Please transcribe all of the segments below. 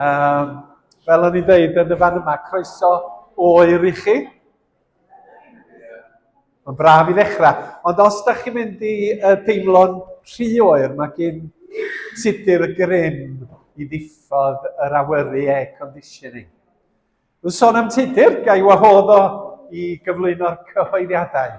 Um, fel o'n i'n dweud yn y fan yma, croeso oer i chi. Mae'n braf i ddechrau. Ond os da chi'n mynd i uh, deimlo'n rhy oer, mae gen tudur y grym i ddiffodd yr awyru air conditioning. Dwi'n sôn am tudur, ga i wahodd o i gyflwyno'r cyhoeddiadau.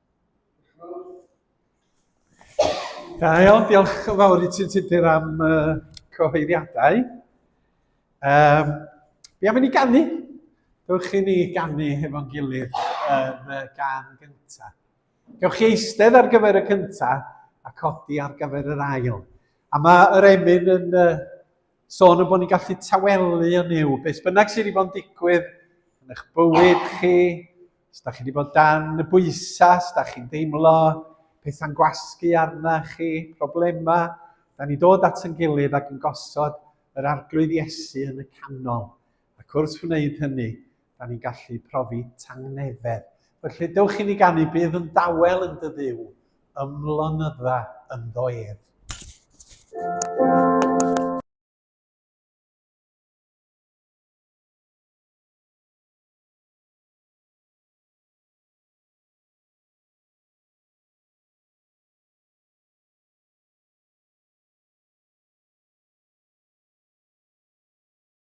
Da iawn, diolch yn fawr i ti'n tudur am uh, cyhoeddiadau. Um, be am i ni gannu? Dewch chi ni gannu hefo'n gilydd yn y gan gyntaf. Gewch chi eistedd ar gyfer y cyntaf a codi ar gyfer yr ail. A mae yr emyn yn uh, sôn am bod ni'n gallu tawelu yn yw, beth bynnag sydd wedi bod yn digwydd yn eich bywyd chi, os da chi wedi bod dan y bwysau, os da chi'n deimlo pethau'n gwasgu arna chi, problemau, da ni dod at yn gilydd ac yn gosod yr arglwydd Iesu yn y canol. Ac wrth wneud hynny, da ni'n gallu profi tangnefedd. Felly, dewch i ni ganu, bydd yn dawel yn dy ddiw, ymlonydda yn ddo ef.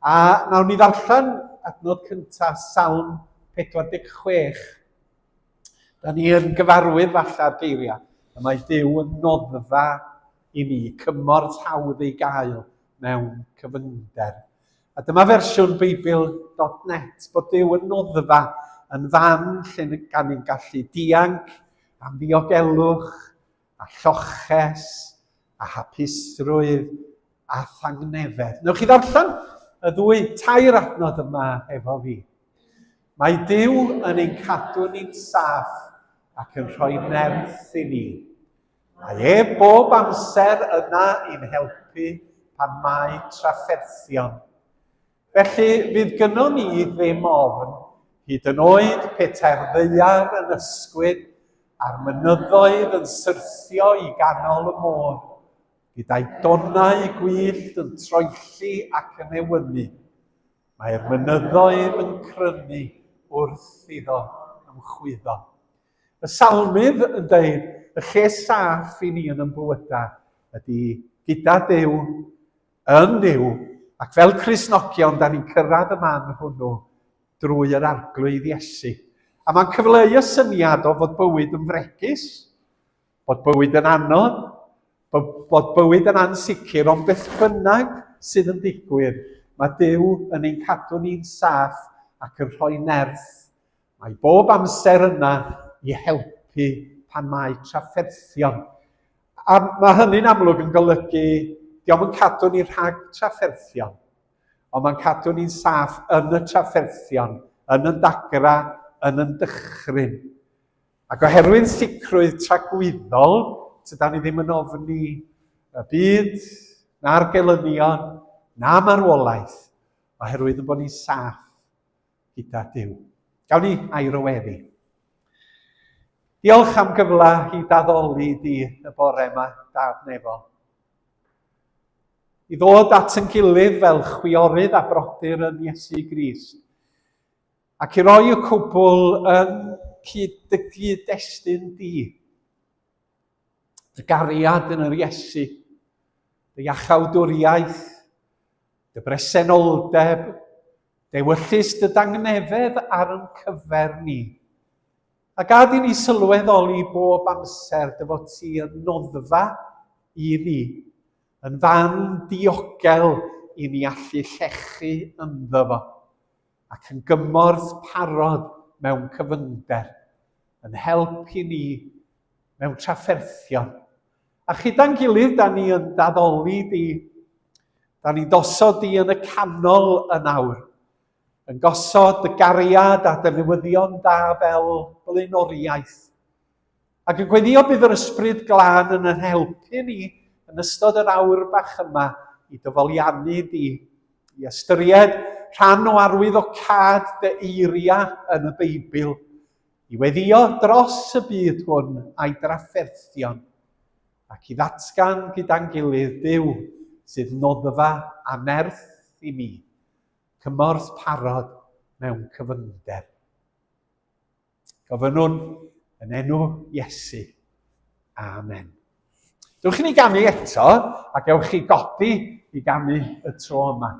A nawr ni ddarllen adnod cyntaf Salm 46. Da ni yn gyfarwydd falla'r geiriau y mae Dyw yn noddfa i ni, cymorth hawdd ei gael mewn cyfyngder. A dyma fersiwn Beibl.net bod Dyw yn noddfa yn fan lle gan ni'n gallu dianc am ddiogelwch a lloches, a hapusrwydd, a thangnefedd. Newch chi ddarllen y ddwy tair adnod yma efo fi. Mae Dyw yn ein cadw ni'n saff ac yn rhoi nerth i ni. Mae e bob amser yna i'n helpu pan mae trafferthion. Felly, fydd gynnon ni ddim ofn, hyd yn oed petai'r ddaear yn ysgwyd a'r mynyddoedd yn syrthio i ganol y môr, gyda'i donnau gwyllt yn troelli ac yn ewynu. Mae'r mynyddoedd yn crynu wrth iddo ymchwyddo. Y Salmydd yn dweud, y lle saff i ni yn ymbywydau ydy gyda Duw, yn Dduw, ac fel Cristnogion, da ni'n cyrraedd y man hwnnw drwy yr Arglwydd Iesu. A mae'n cyfleu y syniad o fod bywyd yn fregus, bod bywyd yn anodd, bod bywyd yn ansicr, ond beth bynnag sydd yn digwydd, mae Duw yn ein cadw ni'n saff ac yn rhoi nerth Mae bob amser yna i helpu pan mae trafferthion. A mae hynny'n amlwg yn golygu, diolch yn cadw ni rhag trafferthion, ond mae'n cadw ni'n saff yn y trafferthion, yn y dagra, yn y dychryn. Ac oherwydd sicrwydd tragwyddol, tyda ni ddim yn ofni y byd, na'r gelynion, na marwolaeth, oherwydd yn bod ni'n saff gyda Duw. Gawn ni air o weddi. Diolch am gyfle i daddoli di y bore yma, Dad Nefol. I ddod at yn gilydd fel chwiorydd a brodyr yn Iesu Grist, ac i roi y cwbl yn cyd-dygu destyn di. Dy gariad yn yr Iesu, dy iachawdwriaeth, Dy bresenoldeb, dewyllys dy dangnefedd ar yn cyfer ni. A gad i ni sylweddoli bob amser dy fod ti yn noddfa i ni, yn fan diogel i ni allu llechu ynddo fo, ac yn gymorth parod mewn cyfyngder, yn help i ni mewn trafferthion, A chyda'n gilydd, da ni yn daddoli di. Da ni'n dosod di yn y canol yn awr. Yn gosod dy gariad a dy newyddion da fel blaenoriaeth. Ac yn gweddio bydd yr ysbryd glân yn yn helpu ni yn ystod yr awr bach yma i dyfoliannu di, i ystyried rhan o arwydd o cad dy eiria yn y Beibl, i weddïo dros y byd hwn a'i drafferthion, ac i ddatgan gyda'n gilydd Duw sydd noddfa a nerth i mi, cymorth parod mewn cyfyngder. Gofynnwn yn enw Iesu. Amen. Dewch i ni ganu eto, ac ewch chi godi i ganu y tro yma.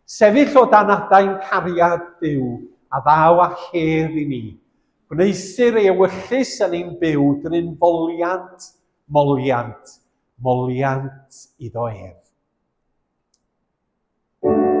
Sefyll o dan adain cariad Duw, a ddaw a chedd i ni. Gwneusir ei ewyllys yn ein byw dryn foliant, moliant, moliant iddo ef. Thank you.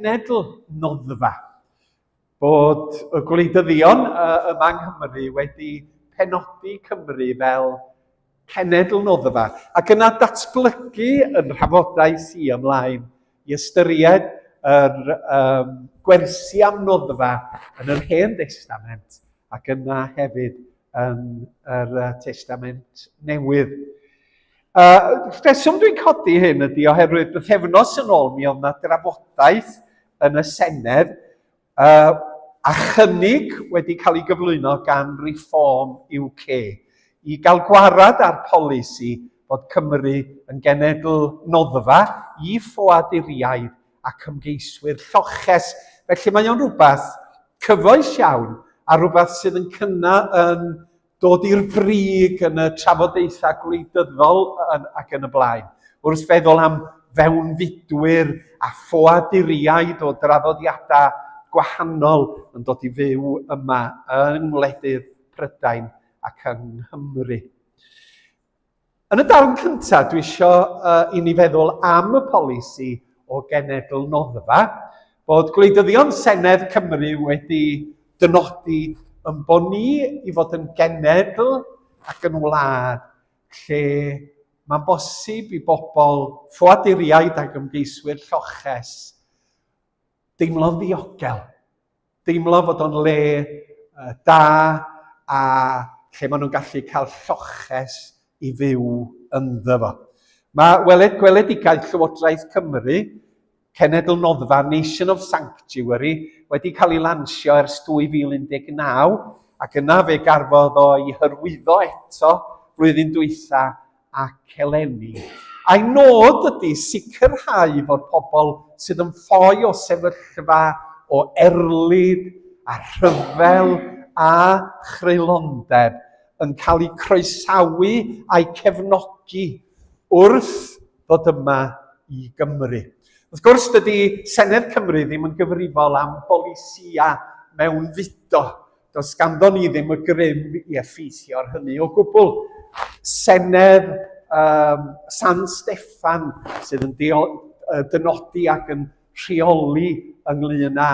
cenedl noddfa bod y gwleidyddion uh, yma yng Nghymru wedi penodi Cymru fel cenedl noddfa ac yna datblygu yn rhafodau si ymlaen i ystyried yr um, gwersi am noddfa yn yr Hen Testament ac yna hefyd yn yr Testament Newydd. Uh, rheswm dwi'n codi hyn ydy oherwydd bythefnos yn ôl mi oedd yna drafodaeth yn y Senedd uh, a chynnig wedi cael ei gyflwyno gan Reform UK i gael gwarad ar polisi bod Cymru yn genedl noddfa i ffoaduriaid ac ymgeiswyr lloches. Felly mae o'n rhywbeth cyfoes iawn a rhywbeth sydd yn cynna yn dod i'r brig yn y trafodaethau gwleidyddol ac yn y blaen. Wrth feddwl am fewnfudwyr a ffoaduriaid o draddodiadau gwahanol yn dod i fyw yma yng ngwledydd Prydain ac yng Nghymru. Yn y darn cyntaf, dwi eisiau uh, i ni feddwl am y polisi o genedl noddfa, bod gwleidyddion Senedd Cymru wedi dynodi yn bod ni i fod yn genedl ac yn wlad lle mae'n bosib i bobl ffoaduriaid ac ymgeiswyr lloches deimlo'n ddiogel deimlo fod o'n le uh, da a lle maen nhw'n gallu cael lloches i fyw ynddo fo. Mae weled gweledigaeth Llywodraeth Cymru, Cenedl Noddfa, Nation of Sanctuary, wedi cael ei lansio ers 2019 ac yna fe garfodd o i hyrwyddo eto flwyddyn dwytha ac eleni. Ein nod ydy sicrhau fod pobl sydd yn ffoi o sefyllfa o erlid a rhyfel a chreulondeb yn cael eu croesawu a'u cefnogi wrth ddod yma i Gymru. Wrth gwrs, dydy Senedd Cymru ddim yn gyfrifol am bolisïau mewnfudo, Does ganddo ni ddim y grym i effeithio ar hynny o gwbl. Senedd um, San Steffan sydd yn dynodi ac yn rheoli ynglyn â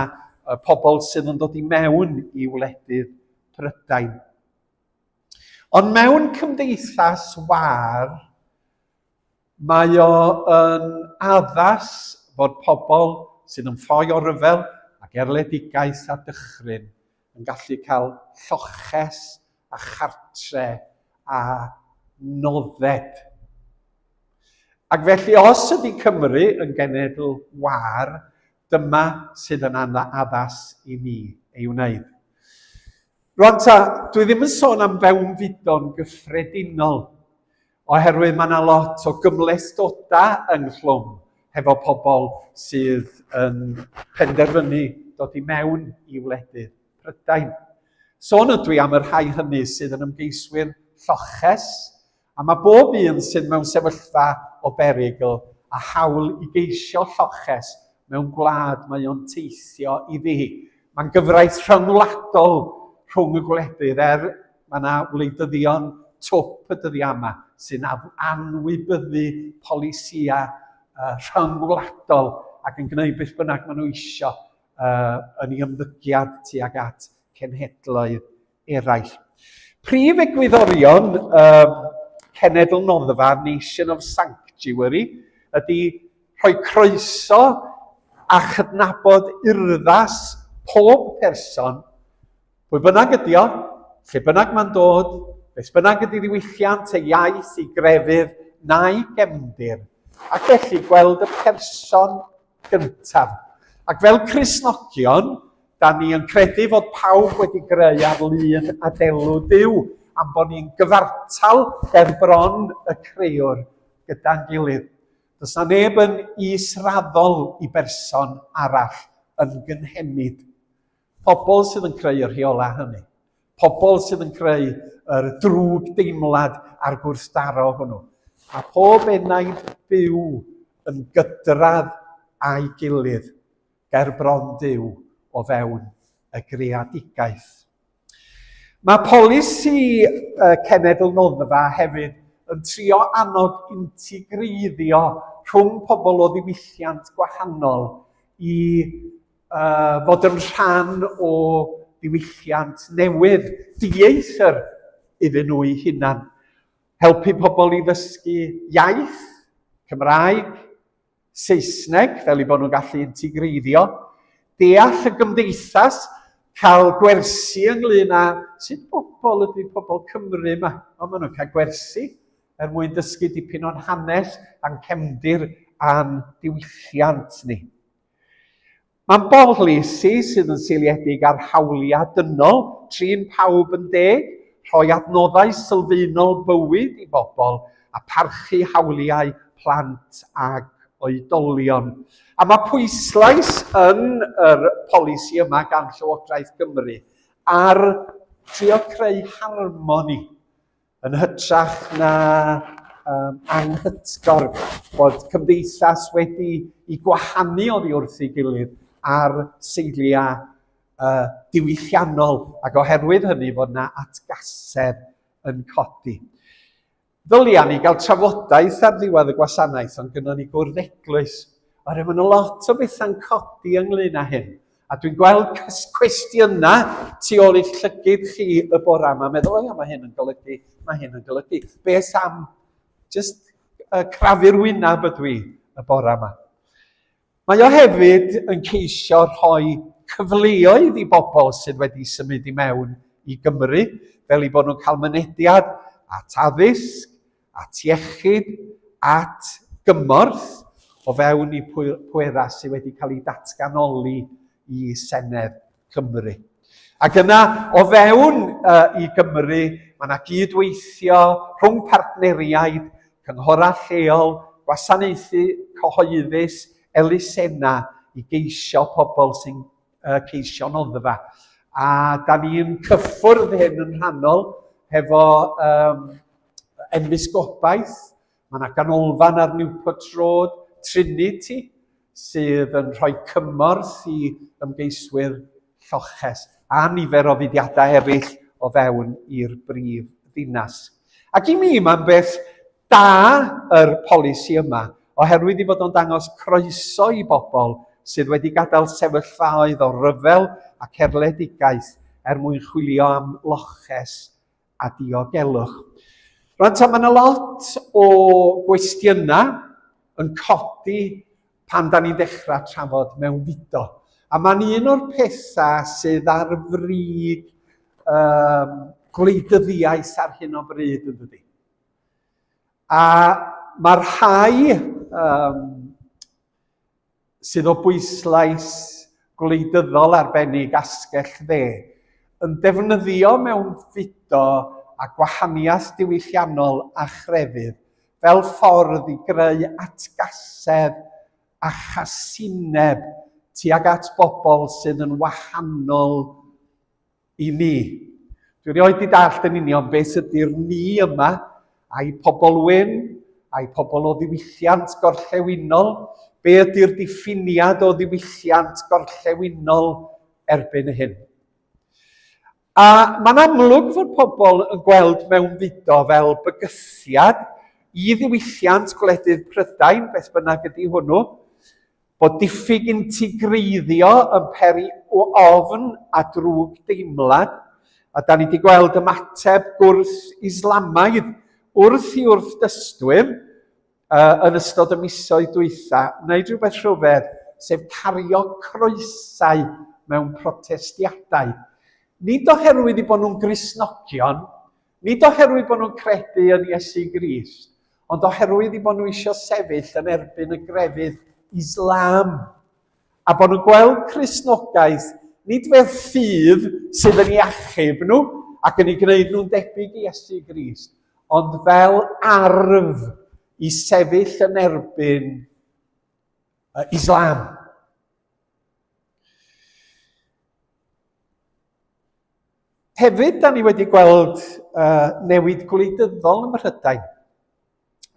y pobl sydd yn dod i mewn i wledydd Prydain. Ond mewn cymdeithas war, Mae o yn addas fod pobl sydd yn ffoi o ryfel ac erledigaeth a dychryn yn gallu cael lloches a chartre a nodded. Ac felly os ydy Cymru yn genedl wâr, dyma sydd yn addas i ni ei wneud. Rwan ta, dwi ddim yn sôn am fewnfudo'n gyffredinol, Oherwydd mae yna lot o gymhlethdodau ynghlwm hefo pobl sydd yn penderfynu dod i mewn i wledydd Prydain. Sôn ydw i am y rhai hynny sydd yn ymgeiswyr lloches, a mae bob un sydd mewn sefyllfa o berygl a hawl i geisio lloches mewn gwlad mae o'n teithio iddi. Mae'n gyfraith rhyngwladol rhwng y gwledydd er Mae yna wleidyddion twp y dyddiau yma sy'n anwybyddu polisiau uh, rhyngwladol ac yn gwneud beth bynnag maen nhw eisiau uh, yn ei ymddygiad tuag at cenhedloedd eraill. Prif egwyddorion um, cenedl noddfa, Nation of Sanctuary, ydy rhoi croeso a chydnabod urddas pob person Pwy bynnag ydy o, lle bynnag mae'n dod, beth bynnag ydy ddiwylliant ei iaith, ei grefydd, na'i gefndir, ac felly gweld y person gyntaf. Ac fel Crisnogion, da ni yn credu fod pawb wedi greu ar lun a delw Dyw, am bod ni'n gyfartal er bron y creuwr gyda'n gilydd. Does na neb yn israddol i berson arall yn gynhenid. Pobl sydd yn creu y rheolau hynny. Pobl sydd yn creu yr drwg deimlad a'r gwrthdaro hwnnw. A pob enaid byw yn gydradd a'i gilydd ger bron Duw o fewn y greadigaeth. Mae polisi cenedl noddfa hefyd yn trio annog integreiddio rhwng pobl o ddiwylliant gwahanol i uh, fod yn rhan o ddiwylliant newydd, dieithr iddyn nhw'i hunan. Helpu pobl i ddysgu iaith, Cymraeg, Saesneg, fel i bod nhw'n gallu integreiddio, deall y gymdeithas, cael gwersi ynglyn â sut bobl ydy pobl Cymru yma. O, maen nhw'n cael gwersi er mwyn dysgu dipyn o'n hanes a'n cefndir a'n diwylliant ni. Mae'n bolisi sydd yn seiliedig ar hawliau dynol, trin pawb yn deg, rhoi adnoddau sylfaenol bywyd i bobl a parchu hawliau plant ac oedolion. A mae pwyslais yn yr polisi yma gan Llywodraeth Cymru ar trio creu harmoni Yn hytrach na um, anghytgor bod cymdeithas wedi i gwahanu oddi wrth ei gilydd ar seiliau uh, diwylliannol ac oherwydd hynny fod yna atgasedd yn codi. Ddylia ni gael trafodaeth ar ddiwedd y gwasanaeth ond gyda ni gwrdd eglwys oherwydd mae yna lot o bethau'n codi ynglyn â hyn. A dwi'n gweld cwestiynau tu ôl i'ch llygyd chi y bora yma, meddwl, o ia, mae hyn yn golygu, mae hyn yn golygu. Beth am just uh, crafu'r wynaf ydw i y bora yma? Mae o hefyd yn ceisio rhoi cyfleoedd i bobl sydd wedi symud i mewn i Gymru, fel i bod nhw'n cael mynediad at addysg, at iechyd, at gymorth o fewn y pwerau sydd wedi cael eu datganoli i Senedd Cymru. Ac yna, o fewn uh, i Gymru, mae yna gydweithio rhwng partneriaid, cynghorau lleol, gwasanaethu cyhoeddus, elusena i geisio pobl sy'n uh, ceisio noddfa. A da ni'n cyffwrdd hyn yn rhannol hefo um, Enfys Gobaith, mae yna ganolfan ar Newport Road, Trinity, sydd yn rhoi cymorth i ymgeiswyr lloches a nifer o fudiadau eraill o fewn i'r brif ddinas. Ac i mi, mae'n beth da yr polisi yma, oherwydd i fod o'n dangos croeso i bobl sydd wedi gadael sefyllfaoedd o ryfel ac erledigaeth er mwyn chwilio am loches a diogelwch. Rwan ta, mae yna lot o gwestiynau yn codi pan da ni'n dechrau trafod mewn fudo. A mae'n un o'r pethau sydd ar frig um, gwleidyddiaeth ar hyn o bryd yn dydy. A mae rhai um, sydd o bwyslais gwleidyddol arbennig asgell dde, yn defnyddio mewnfudo a gwahaniaeth diwylliannol a chrefydd fel ffordd i greu atgasedd a chasineb tuag at bobl sydd yn wahanol i ni. Dwi rioed di dallt yn union beth ydy'r ni yma, a'i pobl wyn, a'i pobl o ddiwylliant gorllewinol, be ydy'r diffiniad o ddiwylliant gorllewinol erbyn hyn. A mae'n amlwg fod pobl yn gweld mewn fudo fel bygythiad i ddiwylliant gwledydd Prydain, beth bynnag ydy hwnnw, Bod diffyg integreiddio yn peri ofn a drwg deimlad, a da ni wedi gweld ymateb gwrth Islamaidd wrth i wrthdystwyr yn ystod y misoedd dwytha wneud rhywbeth rhyfedd, sef cario croesau mewn protestiadau. Nid oherwydd i bod nhw'n Gristnogion, Nid oherwydd bod nhw'n credu yn Iesu Grist, ond oherwydd i bod nhw eisiau sefyll yn erbyn y grefydd Islam, a bod nhw'n gweld Cristnogaeth nid fel ffydd sydd yn ei achub nhw ac yn ei gwneud nhw'n debyg i Iesu Grist, ond fel arf i sefyll yn erbyn Islam. Hefyd, da ni wedi gweld uh, newid gwleidyddol ym Mhrydain.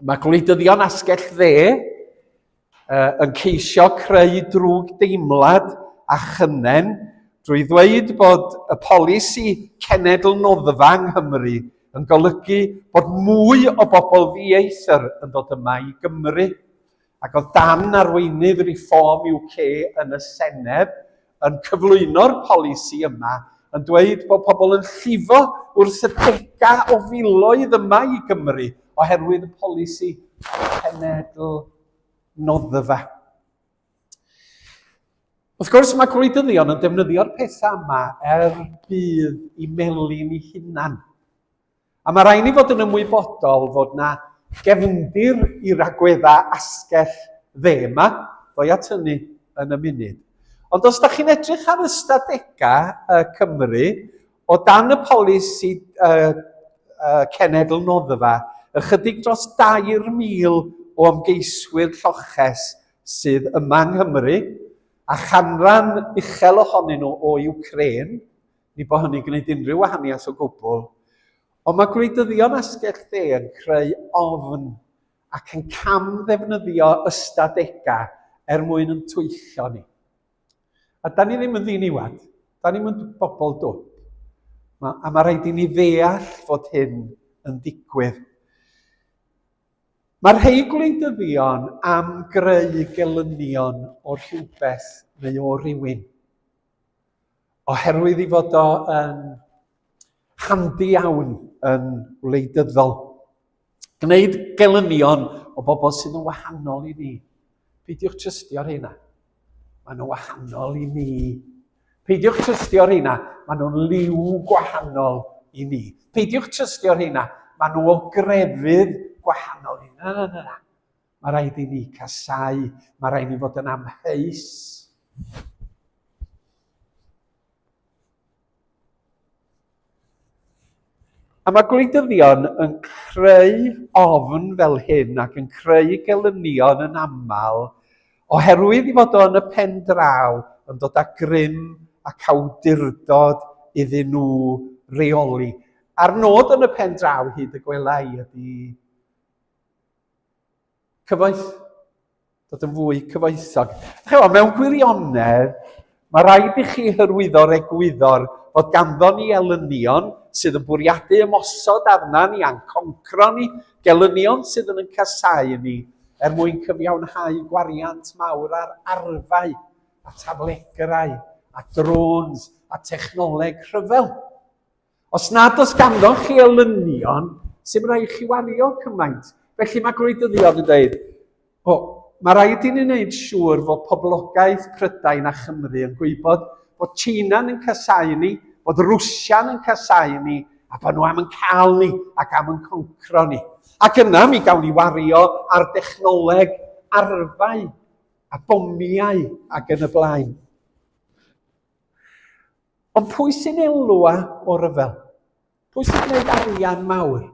Mae gwleidyddion asgell dde uh, yn ceisio creu drwg deimlad a chynnen drwy ddweud bod y polisi cenedl noddfa yng Nghymru yn golygu bod mwy o bobl ddieithr yn dod yma i Gymru. Ac oedd darn arweinydd Reform UK yn y Senedd yn cyflwyno'r polisi yma yn dweud bod pobl yn llifo wrth y degau o filoedd yma i Gymru oherwydd y polisi cenedl noddfa. Wrth gwrs mae gwleidyddion yn defnyddio'r pethau yma er budd i melin i hunan. A mae rhaid ni fod yn ymwybodol fod na gefndir i ragweddau asgell dde yma, ddoi at hynny yn y munud. Ond os da chi'n edrych ar ystadegau uh, Cymru, o dan y polisi uh, uh, cenedl noddfa, ychydig dros 2,000 o ymgeiswyr lloches sydd yma yng Nghymru, a chanran uchel ohonyn nhw o Ukraine, ni bod hynny'n gwneud unrhyw wahaniaeth o gwbl. Ond mae gwleidyddion asgell dde yn creu ofn ac yn cam ddefnyddio ystadegau er mwyn yn twyllio ni. A da ni ddim yn ddiniwad, da ni'n mynd bobl dwp. Ma, a mae rhaid i ni ddeall fod hyn yn digwydd. Mae rhai gwleidyddion am greu gelynion o'r rhywbeth neu o rywun. oherwydd ei fod o yn handi iawn yn wleidyddol. Gwneud gelynion o bobl sydd yn wahanol i ni. Peidiwch trystio rheina. Maen nhw'n wahanol i ni. Peidiwch trystio rheina. Maen nhw'n liw gwahanol i ni. Peidiwch trystio rheina. Maen nhw o grefydd gwahanol i ni. Na, na, na, na. Mae rhaid i ni casau, mae rhaid i ni fod yn amheus. A mae gwleidyddion yn creu ofn fel hyn ac yn creu gelynion yn aml oherwydd i fod o'n y pen draw yn dod â grym ac awdurdod iddyn nhw reoli. A'r nod yn y pen draw hyd y gwelai ydy Cyfoeth, dod yn fwy cyfoethog. Chewch, mewn gwirionedd, mae rhaid i chi hyrwyddo'r egwyddor fod ganddo ni elynion sydd yn bwriadu ymosod arna ni a'n concro ni, gelynion sydd yn yn casau ni er mwyn cyfiawnhau gwariant mawr ar arfau a taflegrau a drones a technoleg rhyfel. Os nad oes ganddoch chi elynion, sy'n rhaid chi wario cymaint. Felly mae gwleidyddion yn dweud, o, mae rhaid i ni wneud siŵr fod poblogaeth Prydain a Chymru yn gwybod bod China'n yn casau ni, bod Rwsia'n yn casau ni, a bod nhw am yn cael ni ac am yn concro ni. Ac yna mi gawn ni wario ar dechnoleg, arfau a bomiau ac yn y blaen. Ond pwy sy'n elwa o ryfel? Pwy sy'n gwneud arian mawr?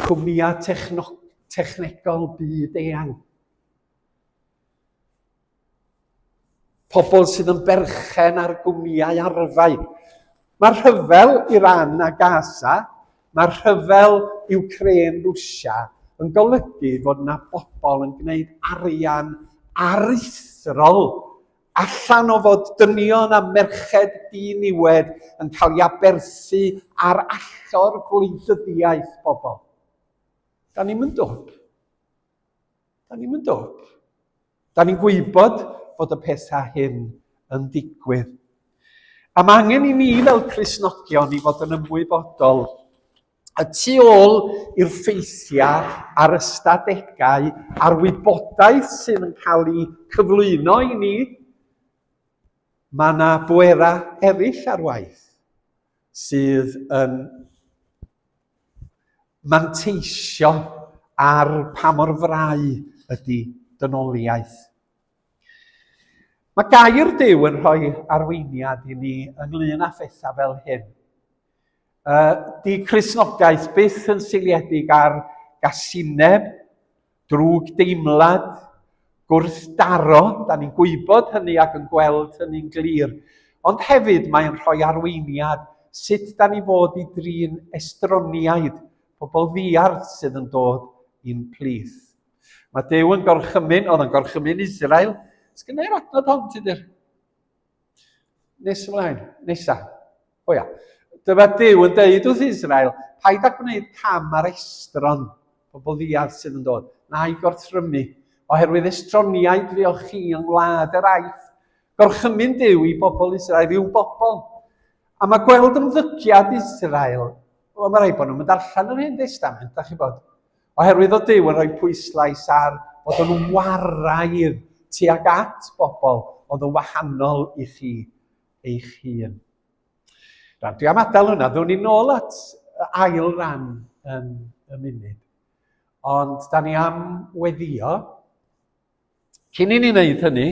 Cwmnïau techno, technegol byd eang. Pobl sydd yn berchen ar gwmnïau arfau. Mae rhyfel Iran a Gaza, mae rhyfel Ukraine Rwsia yn golygu fod yna bobl yn gwneud arian aruthrol Allan o fod dynion a merched di-niwed yn cael ei aberthu ar allor gwleidyddiaeth bobl. Da ni'n mynd dwp. Da ni'n mynd dwp. Da ni'n gwybod bod y pethau hyn yn digwydd. A mae angen i ni fel Crisnogion i fod yn ymwybodol y tu ôl i'r ffeithiau a'r ystadegau a'r wybodaeth sydd yn cael ei cyflwyno i ni, mae yna bwerau eraill ar waith sydd yn manteisio ar pa mor frau ydy dynoliaeth. Mae gair Dyw yn rhoi arweiniad i ni ynglyn â phethau fel hyn. Uh, di Crisnogaeth byth yn seiliedig ar gasineb, drwg deimlad, gwrthdaro, da ni'n gwybod hynny ac yn gweld hynny'n glir, ond hefyd mae'n rhoi arweiniad sut da ni fod i drin estroniaid, pobl ddiarth sydd yn dod i'n plith. Mae Dew yn gorchymyn, oedd yn gorchymyn Israel, sgynnau'r adnod hon, ti'n dweud? Nes ymlaen, nesa. O ia. Dyma Dyw yn deud wrth Israel, paid â gwneud cam ar estron pobl ddiad sydd yn dod, na'i gorthrymu, oherwydd estroniaid fuoch chi yng ngwlad yr aeth. Gorchymyn Dyw i bobl Israel i'w bobl. A mae gweld ymddygiad Israel, wel, mae rhaid bod nhw'n mynd allan yr hyn destament, da chi bod. Oherwydd o Duw yn rhoi pwyslais ar fod yn waraidd tuag at bobl oedd yn wahanol i chi eich hun. Rhan, dwi am adael hwnna, ddwn i'n ôl at ail ran yn y munud. Ond da ni am weddio. Cyn i ni wneud hynny,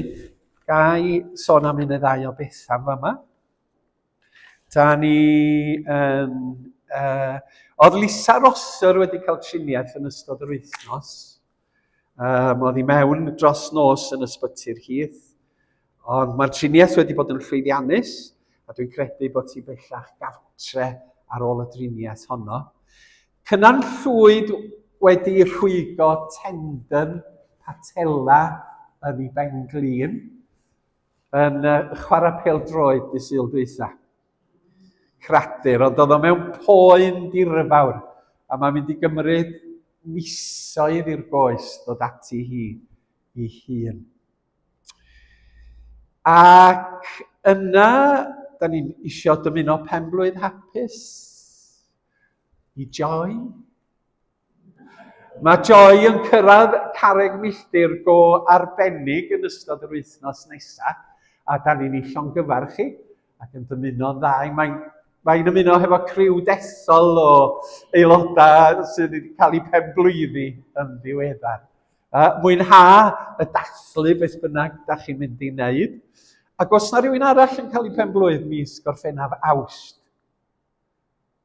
ga i sôn am un neu ddau o bethau yma. Da ni yn... Uh, oedd Lisa Rosser wedi cael triniaeth yn ystod yr wythnos. Um, oedd hi mewn dros nos yn ysbyty'r hith. Ond mae'r triniaeth wedi bod yn llwyddiannus a dwi'n credu bod ti bellach gartre ar ôl y driniaeth honno. Cynan Llwyd wedi rhwygo tendon patella yn ei ben glin. yn uh, chwarae pel droed dy syl dwytha. Cradur, ond oedd o mewn poen dirfawr, a mae'n mynd i gymryd misoedd i'r goes dod ati hi i hun. Ac yna, da ni'n isio dymuno penblwydd hapus i Joy, Mae Joy yn cyrraedd carreg milltir go arbennig yn ystod yr wythnos nesaf, a da ni'n ei llongyfarch chi ac yn dymuno'n dda. Mae'n mae ymuno hefo criw dethol o aelodau sydd wedi cael eu penblwyddi yn ddiweddar. Uh, mwynha y dathlu beth bynnag da chi'n mynd i wneud. Ac os na rhywun arall yn cael ei penblwydd mis Gorffennaf Awst,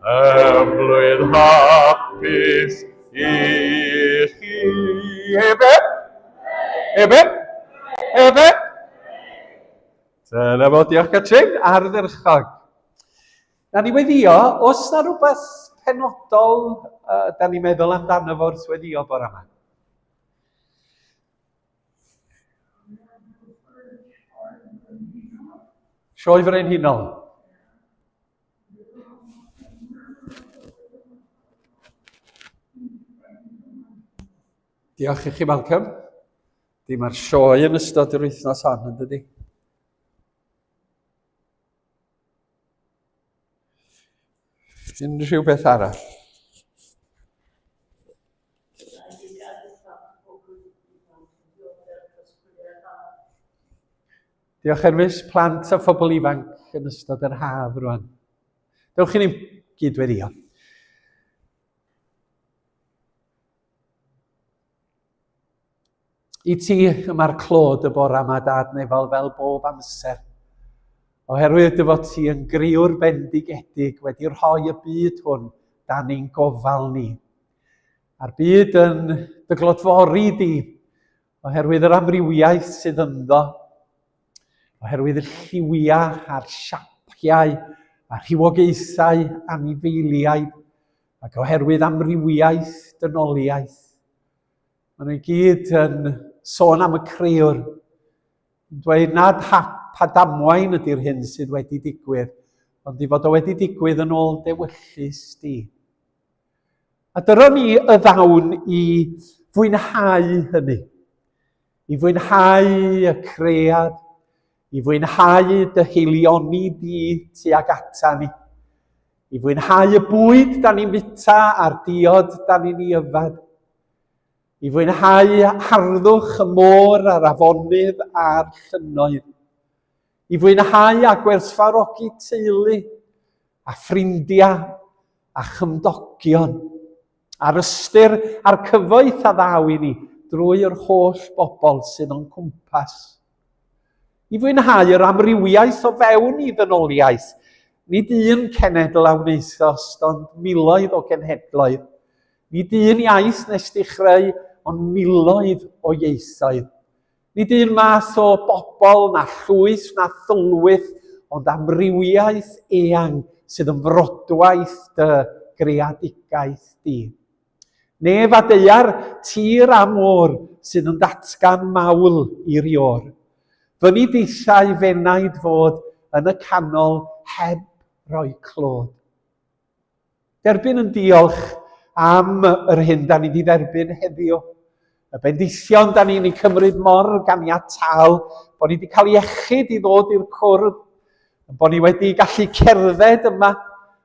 Ymlwydd hapus i chi. Efe? Efe? Efe? Dyna fo, diolch Catrin, ardderchog. Na ni weddio, os na rhywbeth penodol uh, da ni'n meddwl amdano fo wrth weddio bore yma? Sioe Frenhinol. Diolch i chi, Malcolm. Di mae'r sioe yn ystod yr wythnos hon, yn dydy? Unrhyw beth arall? Diolch Erfus, plant a phobl ifanc yn ystod yr haf rwan. Dewch i ni gydweddio. I ti yma'r clod y bora yma, Dad Nefal, fel bob amser. Oherwydd dy fod ti yn griwr bendigedig wedi rhoi y byd hwn dan ni'n gofal ni. A'r byd yn dy glodfori di, Oherwydd yr amrywiaeth sydd ynddo, oherwydd y lliwiau a'r siapiau a rhywogaethau anifeiliaid, ac oherwydd amrywiaeth dynoliaeth. Maen nhw i gyd yn sôn am y creuwr, yn dweud nad hap a damwain ydy'r hyn sydd wedi digwydd, ond i fod o wedi digwydd yn ôl dewyllus di. A dyro ni y ddawn i fwynhau hynny. I fwynhau y cread, i fwynhau dy heilioni di tuag ata ni. I fwynhau y bwyd da ni'n fita a'r diod da ni'n ei yfed. I fwynhau harddwch y môr a'r afonydd a'r llynnoedd. i fwynhau a gwerthfarogi teulu a ffrindiau a chymdogion, a'r ystyr a'r cyfoeth a ddaw i ni drwy yr holl bobl sydd o'n cwmpas. I fwynhau yr amrywiaeth o fewn i ddynoliaeth, nid un cenedl a wnaethost, ond miloedd o genhedloedd, nid un iaith nes di chreu, ond miloedd o ieithoedd. Nid un math o bobl na llwyth na thylwyth, ond amrywiaeth eang sydd yn frodwaith dy greadigaeth di. Nef a deuar, tir a môr, sydd yn datgan mawl i rior. Fy ni deithau fenaid fod yn y canol heb roi clod. Derbyn yn diolch am yr hyn da ni wedi dderbyn heddiw. Y bendithion da ni'n ei cymryd mor ganiataol bod ni wedi cael iechyd i ddod i'r cwrdd, bod ni wedi gallu cerdded yma,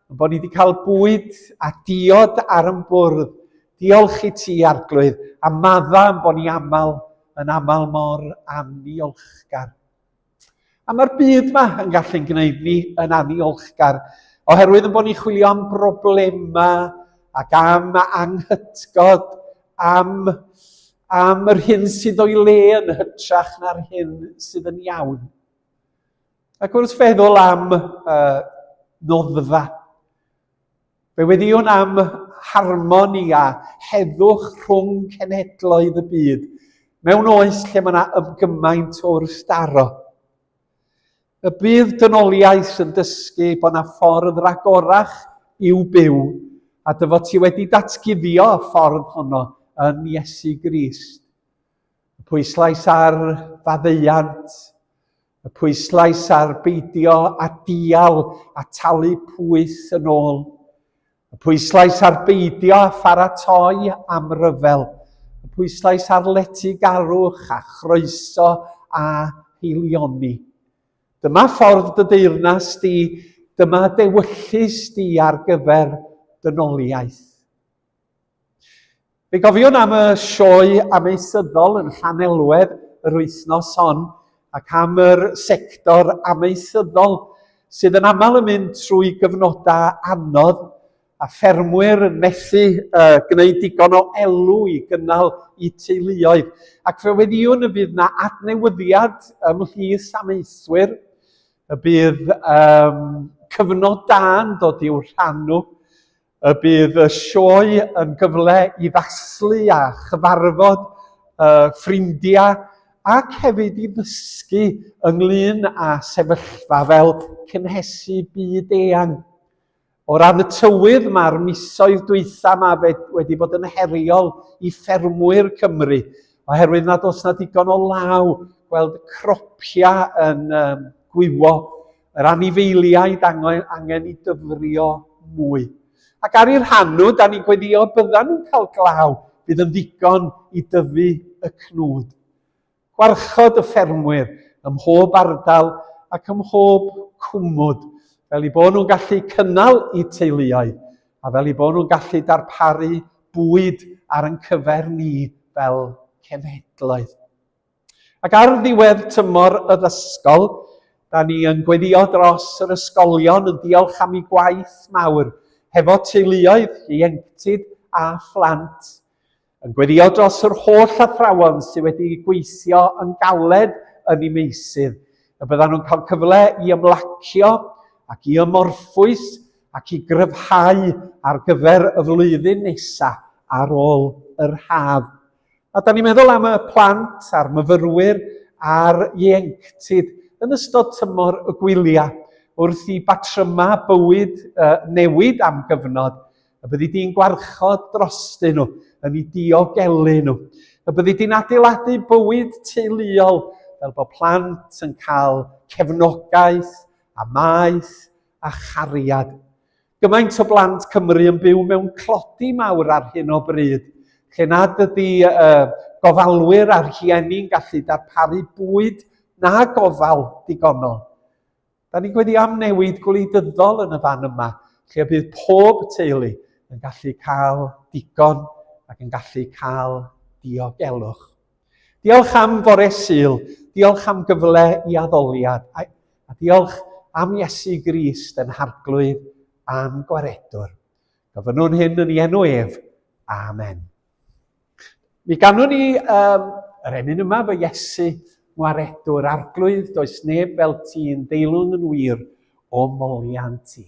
bod ni wedi cael bwyd a diod ar yn bwrdd. Diolch i ti, Arglwydd, a madda am bod ni aml yn aml mor anniolchgar. A mae'r byd yma yn gallu'n gwneud ni yn aniolchgar, oherwydd yn bod ni'n chwilio am broblemau ac am anghytgod, am, am yr hyn sydd o'i le yn hytrach na'r hyn sydd yn iawn. Ac wrth feddwl am uh, noddfa, Fe weddiwn am harmoni a heddwch rhwng cenhedloedd y byd, mewn oes lle mae yna ymgymaint o wrstaro. Y bydd dynoliaeth yn dysgu bod yna ffordd ragorach i'w byw, a dy fod ti wedi datguddio y ffordd honno yn Iesu Grist. Y pwyslais ar faddeuant, Y pwyslais ar beidio a dial a talu pwyth yn ôl. Y pwyslais ar beidio a pharatoi am ryfel. Y pwyslais ar letygarwch a chroeso a heilioni. Dyma ffordd dy deyrnas di, dyma dewyllys di ar gyfer dynoliaeth. Fe gofiwn am y sioe ameisyddol yn Llanelwedd yr wythnos hon ac am yr sector ameisyddol sydd yn aml yn mynd trwy gyfnodau anodd a ffermwyr yn methu uh, gwneud digon o elw i gynnal i teuluoedd. Ac fe weddiwn y bydd na adnewyddiad ymhlith amaethwyr, y bydd um, cyfnod da'n dod i'w rhannu, y bydd y sioe yn gyfle i ddathlu a chyfarfod uh, ffrindiau ac hefyd i ddysgu ynglyn â sefyllfa fel cynhesu byd eang. O ran y tywydd, mae'r misoedd dwytha yma wedi bod yn heriol i ffermwyr Cymru, oherwydd nad oes na digon o law gweld y cropiau yn um, gwywo Yr anifeiliaid angen i dyfrio mwy. Ac ar i'r hanw, da ni'n gweddïo byddan nhw'n cael glaw bydd yn ddigon i dyfu y cnwd. Gwarchod y ffermwyr ym mhob ardal ac ym mhob cwmwd, fel i bod nhw'n gallu cynnal i teuluoedd a fel i bod nhw'n gallu darparu bwyd ar yn cyfer ni fel cenhedloedd. Ac ar ddiwedd tymor y ddysgol, da ni yn gweddio dros yr ysgolion yn diolch am ei gwaith mawr, hefo teuluoedd, ieuenctid a phlant. Yn gweddio dros yr holl athrawon sydd wedi gweithio yn galed yn ei meysydd, y byddan nhw'n cael cyfle i ymlacio ac i ymorffwys ac i gryfhau ar gyfer y flwyddyn nesaf ar ôl yr haf. A da ni'n meddwl am y plant a'r myfyrwyr a'r ieuenctid yn ystod tymor y gwyliau, wrth i batrymau bywyd uh, newid am gyfnod, y byddi di'n gwarchod drostyn nhw, yn ei diogelu nhw. Y byddi di'n adeiladu bywyd teuluol fel bod plant yn cael cefnogaeth a maeth a chariad. Gymaint o blant Cymru yn byw mewn tlodi mawr ar hyn o bryd, lle nad ydy uh, gofalwyr a'r rhieni'n gallu darparu bwyd na gofal digonol. Da ni'n gweddio am newid gwleidyddol yn y fan yma, lle bydd pob teulu yn gallu cael digon ac yn gallu cael diogelwch. Diolch am fore Sul, diolch am gyfle i addoliad, a, a diolch am Iesu Grist yn harglwydd a'n gwaredwr. Gofynnwn hyn yn ei enw ef. Amen. Mi ganwn ni um, yr emyn yma fy Iesu, ngwaredwr arglwydd, does neb fel ti'n deilwng yn wir o molian ti.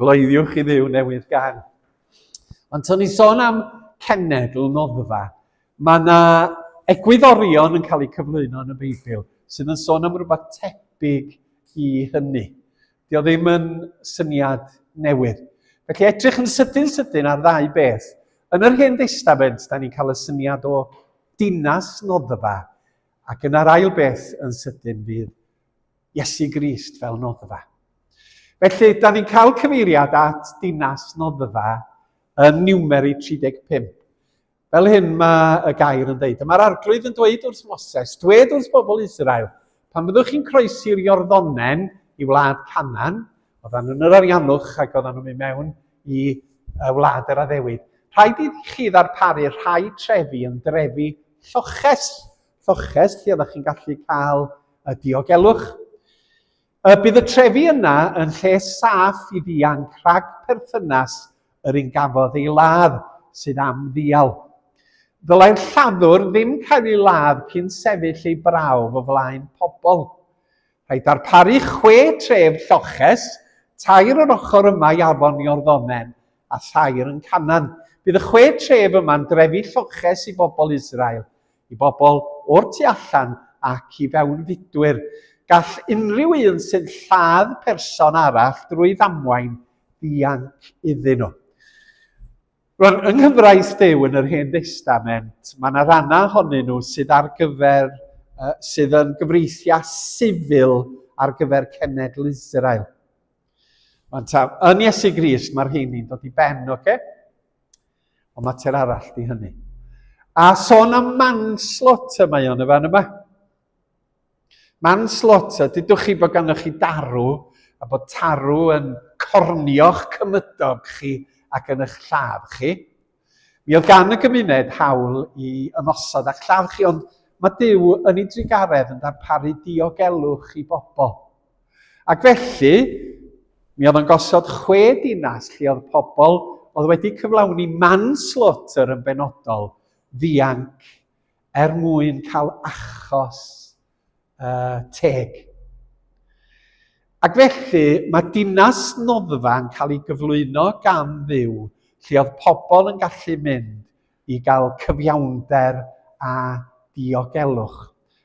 Gloeddiwch i ddiw newydd gan. Ond to'n ni sôn am cenedl noddfa, mae yna egwyddorion yn cael eu cyflwyno yn y Beibl sydd yn sôn am rhywbeth tebyg i hynny. Dio ddim yn syniad newydd. Felly edrych yn sydyn sydyn ar ddau beth. Yn yr Hen Destament, da ni'n cael y syniad o dinas noddfa, ac yna'r ail beth yn sydyn fydd Iesu Grist fel noddfa. Felly, da ni'n cael cyfeiriad at dinas noddfa yn Niwmeri 35. Fel hyn mae y gair yn dweud, Mae'r arglwydd yn dweud wrth Moses, dweud wrth bobl Israel, pan fyddwch chi'n croesi'r Iorddonen i wlad Canan, oedden nhw'n yr ariannwch ac oedden nhw'n mynd mewn i wlad yr addewid, rhaid i chi ddarparu rhai trefi yn drefi lloches lloches lle oeddech chi'n gallu cael y diogelwch. Y bydd y trefi yna yn lle saff i ddianc rhag perthynas yr un gafodd ei ladd sydd am ddial. Ddylai'r lladdwr ddim cael ei ladd cyn sefyll ei brawf o flaen pobl. Rhaid darparu chwe tref lloches, tair o'r ochr yma i afon Iorddonen a thair yn Canan. Bydd y chwe tref yma'n drefi lloches i bobl Israel, i bobl o'r tu allan ac i fewnfudwyr. Gall unrhyw un sy'n lladd person arall drwy ddamwain ddianc iddyn nhw. Rwan, yng nghyfraith Duw yn yr Hen Destament, mae yna rannau ohonyn nhw sydd ar gyfer, uh, sydd yn gyfreithiau sifil ar gyfer cenedl Israel. Ond ta, yn Iesu Grist, mae'r rheini'n dod i ben, oce? Okay? Ond mae ter arall di hynny. A son am manslaughter mae o'n y fan yma. Manslaughter, dydwch chi bod ganddo chi darw a bod tarw yn cornio'ch cymydog chi ac yn eich lladd chi. Mi oedd gan y gymuned hawl i ymosod a'ch lladd chi, ond mae Duw yn ei drugaredd yn darparu diogelwch i bobl. Ac felly, mi oedd o'n gosod chwe dinas lle oedd pobl oedd wedi cyflawni manslaughter yn benodol ddianc er mwyn cael achos uh, teg. Ac felly, mae dinas noddfa yn cael ei gyflwyno gan ddiw, lle oedd pobl yn gallu mynd i gael cyfiawnder a diogelwch.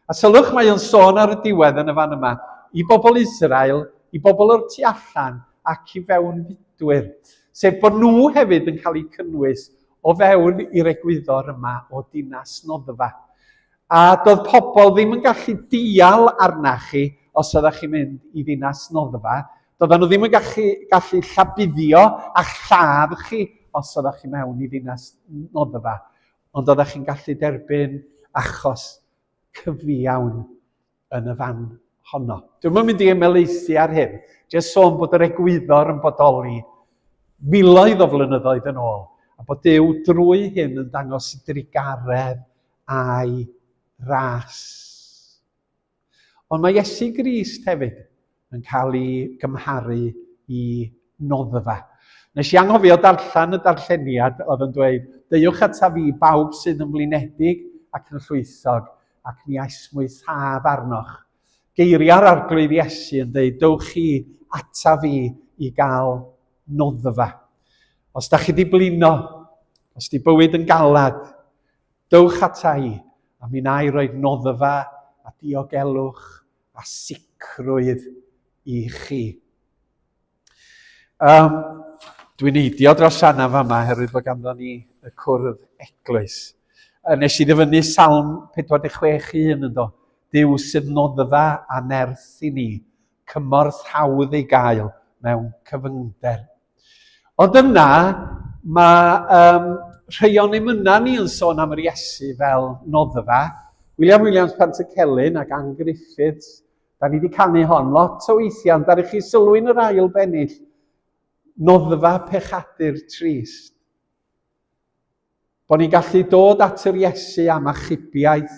A sylwch, mae o'n sôn ar y diwedd yn y fan yma, i bobl Israel, i bobl o'r tu allan ac i fewn fudwyr, sef bod nhw hefyd yn cael eu cynnwys o fewn i'r egwyddor yma o dinas noddfa. A doedd pobl ddim yn gallu dial arna chi os oeddech chi'n mynd i ddinas noddfa. Doedden nhw ddim yn gallu, gallu llabuddio a lladd chi os oeddech chi mewn i ddinas noddfa. Ond oeddech chi'n gallu derbyn achos cyfiawn yn y fan honno. Dwi'n yn mynd i ymelaethu ar hyn, jyst sôn bod yr egwyddor yn bodoli miloedd o flynyddoedd yn ôl, a bod Dyw drwy hyn yn dangos i drigaredd a'i ras. Ond mae Iesu Grist hefyd yn cael ei gymharu i noddfa. Nes i anghofio darllen y darlleniad oedd yn dweud, deuwch ata fi bawb sydd yn flinedig ac yn llwythog, ac mi aesmwyth haf arnoch. Geiriau'r arglwydd Iesu yn dweud, dewch chi ata fi i gael noddfa. Os da chi di blino, os di bywyd yn galad, dewch ata i, a mi na i roed noddfa a diogelwch a sicrwydd i chi. Um, dwi'n eidio dros Anna fama herwydd bod ganddo ni y cwrdd eglwys. Nes i ddyfynnu salm 46.1 yn do. Dyw sydd noddfa a nerth i ni, cymorth hawdd ei gael mewn cyfyngder Ond yna, mae um, rhai o'n emynau ni yn sôn am yr Iesu fel noddfa. William Williams Pantycelyn ac Ann Griffiths, da ni wedi canu hon lot o weithiau, ond ar eich chi sylwi'n yr ail bennill, noddfa pechadur trist. Bod ni'n gallu dod at yr Iesu am achubiaeth,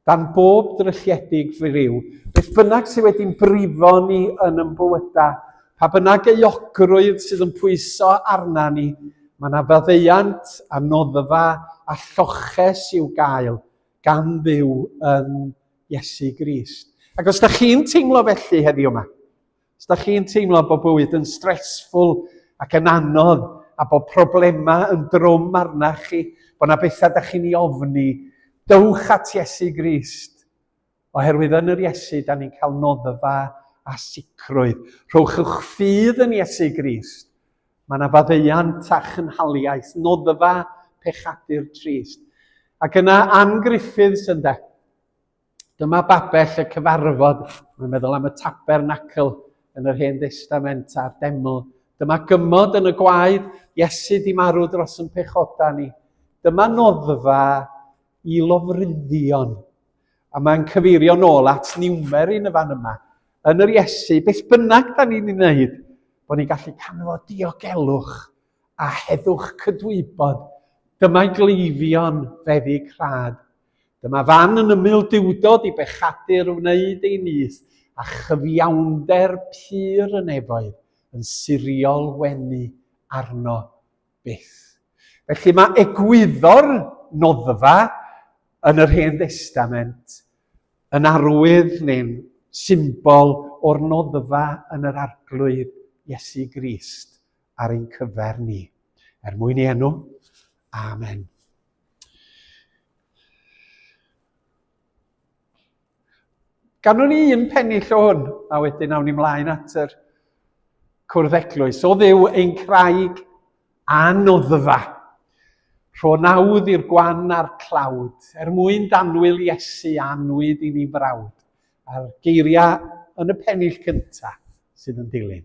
dan bob drylledig friw, beth bynnag sydd wedi'n brifo ni yn yn bywydau, pa bynnag euogrwydd sydd yn pwyso arna ni, mae yna faddeuant a noddfa a lloches i'w gael gan ddiw yn Iesu Grist. Ac os da chi'n teimlo felly heddiw yma, Os da chi'n teimlo bod bywyd yn stressful ac yn anodd a bod problemau yn drwm arna chi, bod na bethau da chi'n ei ofni, dywch at Iesu Grist. Oherwydd yn yr Iesu, da ni'n cael noddfa a sicrwydd. Rhowch ych ffydd yn Iesu Grist. Mae yna faddeuant a chynhaliaeth, noddfa pechadur trist. Ac yna Ann Griffiths ynde. Dyma babell y cyfarfod, mae'n meddwl am y tabernacl yn yr Hen Destament a'r deml. Dyma gymod yn y gwaed, Iesu di marw dros yn pechoda ni. Dyma noddfa i lofruddion. A mae'n cyfeirio nôl at niwmer yn y fan yma. Yn yr Iesu, beth bynnag da ni'n ei wneud, bod ni'n gallu canfod diogelwch a heddwch cydwybod, dyma gleifion feddyg rhad. Dyma fan yn ymyl diwdod i bechadur wneud ei nyth, a chyfiawnder pur y nefoedd yn siriol wenu arno byth. Felly mae egwyddor noddfa yn yr Hen Destament yn arwydd neu'n symbol o'r noddfa yn yr arglwydd Iesu Grist ar ein cyfer ni. Er mwyn ei enw. Amen. Ganwn ni un pennill o hwn, a wedyn awn ni mlaen at yr cwrdd eglwys. O ddiw ein craig anoddfa. Rho nawdd i'r gwan a'r clawd, er mwyn danwyl Iesu anwyd i ni frawd, a'r geiriau yn y pennill cyntaf sydd yn dilyn.